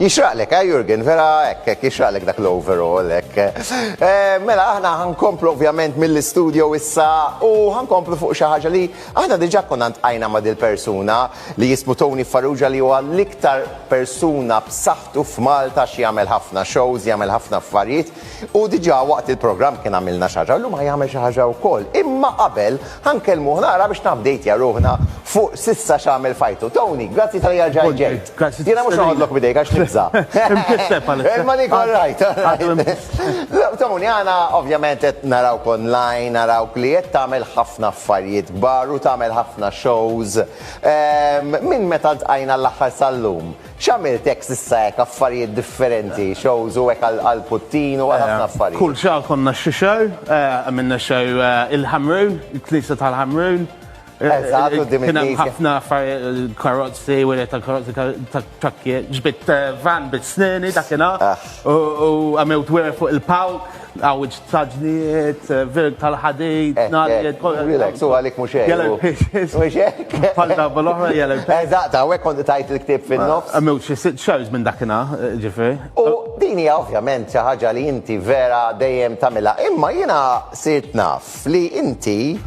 Jixraqlek, eh, Jurgen? Vera hekk, hekk, jixraqlek dak l-overall, hekk. Eh, mela, aħna ħankomplu ovvjament mill-istudio issa u ħankomplu fuq xi ħaġa li aħna diġà konna ntqajna ma' dil-persuna li jismu Tony Farrugia li huwa l-iktar persuna b'saħħtu f'Malta x'jagħmel ħafna shows, jagħmel ħafna affarijiet. U diġà waqt il-programm kien għamilna xi ħaġa u llum ħa jagħmel xi ħaġa wkoll. Imma qabel ħa nkellmuh naqra biex nabdejtja ruħna fuq s'issa x'għamel f'ħajtu. Tony, grazzi talli erġa' ġejt. Jiena mhux noħodlok b'idejk għax nibża'. Imkisseb għalissa. Imma dik all right. Tony, aħna ovvjament qed narawk online, narawk li qed tagħmel ħafna affarijiet kbar u tagħmel ħafna shows. Minn meta ltqajna l-aħħar sal-lum, X'għamilt hekk s'issa hekk affarijiet differenti, shows u hekk għall-puttin u għal ħafna affarijiet. Kull xahar konna xi show, għamilna show il-Ħamrun, il-Knisja tal-Ħamrun. Eżatt, quddiem il-Knisja. Kien hemm ħafna affarijiet, karozzi, wiriet tal-karozzi, trakkijiet, ġbidt van bit-sneni dakinhar u għamilt wiriet fuq il-palk. Għawġ taġniet, verg tal-ħadejt, eh, narjet, eh, kolla. Relax, u għalik mux eħ. Jalla l-pages. Mux eħ. Falda bol-ohra jalla l-pages. Eh, Eżaqta, għek kont tajt l-ktib fil-nofs. Għamiw xie sit xarġ minn dakina, ġifri. U dini ovvjament ċaħġa li inti vera dejjem tamila. Imma jina sirt naf li inti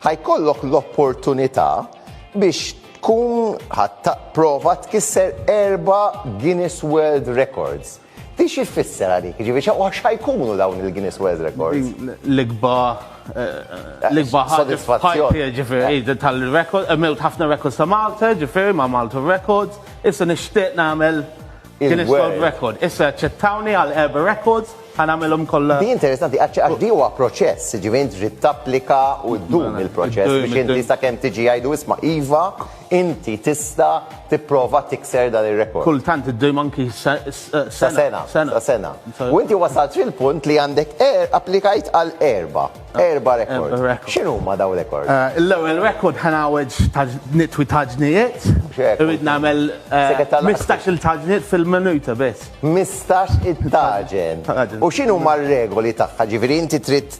ħajkollok l-opportunita biex tkun ħatta prova tkisser erba Guinness World Records. Din xi tfisser għalik? Jiġifieri xa u xa jkunu dawn il-Guinness World Records? L-ikba l-ikba ħaġa Sodisfazzjon. f'ħajti, ġifieri, di tal-record, għamilt ħafna records ta' Malta, ġifieri ma' Malta Records, issa nixtieq nagħmel Guinness Il-world. World Record. Issa aċċettawni għal erba' records, ħa nagħmilhom kollha. Di interessanti, għax għax di huwa proċess, jiġifieri int trid tapplika u ddum il-proċess Iddum, biex inti iddum. sakemm tiġi jgħidu isma' iva, Inti tista' tipprova tikser dan ir-rekord. Kultant iddum anki sa sena. Sa sena. U inti wasalt fil-punt li għandek applikajt għal erba'. Erba' rekord. X'inhuma dawn rekord? L-ewwel rekord ħa ngħawweġ nitwi taġnijiet. Irrid nagħmel 15-il taġniet fil-minuta biss. 15-il taġen. U x'inhuma r-regoli tagħha? Ġifieri inti trid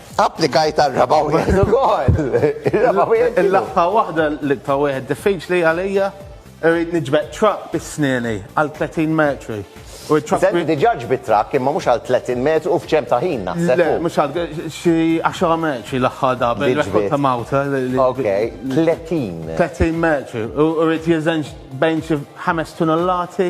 Applikajt għar-raba' wieħed ukoll. Ir-raba' wieħed x'inhu? L-aħħar waħda li ta' wieħed diffiċli għalija. Irrid niġbed truck bi snieni għal 30 metru. U t-truck. Senti, diġà ġbidt truck imma mhux għal 30 metru u f'ċerm ta' ħin naħseb. Le, mhux għal xi 10 metri l-aħħar darba. Li ġbidt. Rekord ta' Malta. Okej, 30. 30 metru. U rrid jeżenx bejn xi ħames tunnellati.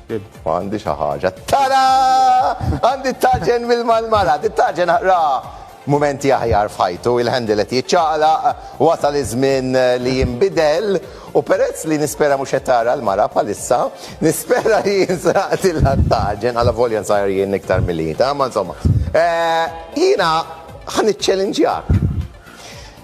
Għandi xi ħaġa. Tara! Għandi t-taġen mill-malmala, t-taġen ra mumenti aħjar f'ħajtu, il-handle qed jiċċaqlaq, wasal iż-żmien li jinbidel u perezz li nispera mhux qed tara l-mara bħalissa, nispera li jinsraqtilha t-taġen, alla volja nsajjar jien iktar milli hi, ta' ma insomma. Jiena ħa niċċelinġjak.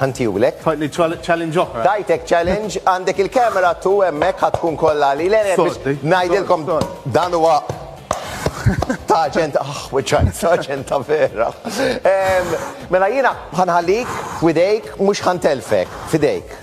Ħantiulek. Tajtni challenge oħra. Tajtek challenge, għandek il-camera tu hemmhekk ħad tkun kollha li l ngħidilkom dan huwa ta' ġent, ah, weċajt, ta' ġent ta' vera. Mela jina ħanħallik f'idejk, mux ħantelfek, f'idejk.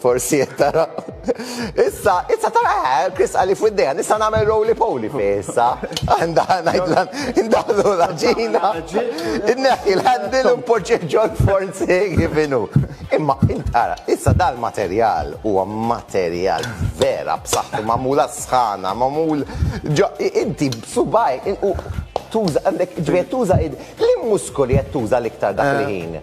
Forsi qed tara. Issa, issa tara eh, Chris għalli fuq id-dejja, nista' nagħmel roly poly fi issa. Għandha ngħidlan, indaħlu la ġina. Inneħħi l-handil u mpoġġi ġol forsi kif inhu. Imma intara, issa dal-materjal huwa materjal vera b'saħħtu magħmula sħana, magħmul ġo inti b'subaj u tuża għandek ġbejt tuża id li muskoli qed tuża l-iktar dak il-ħin.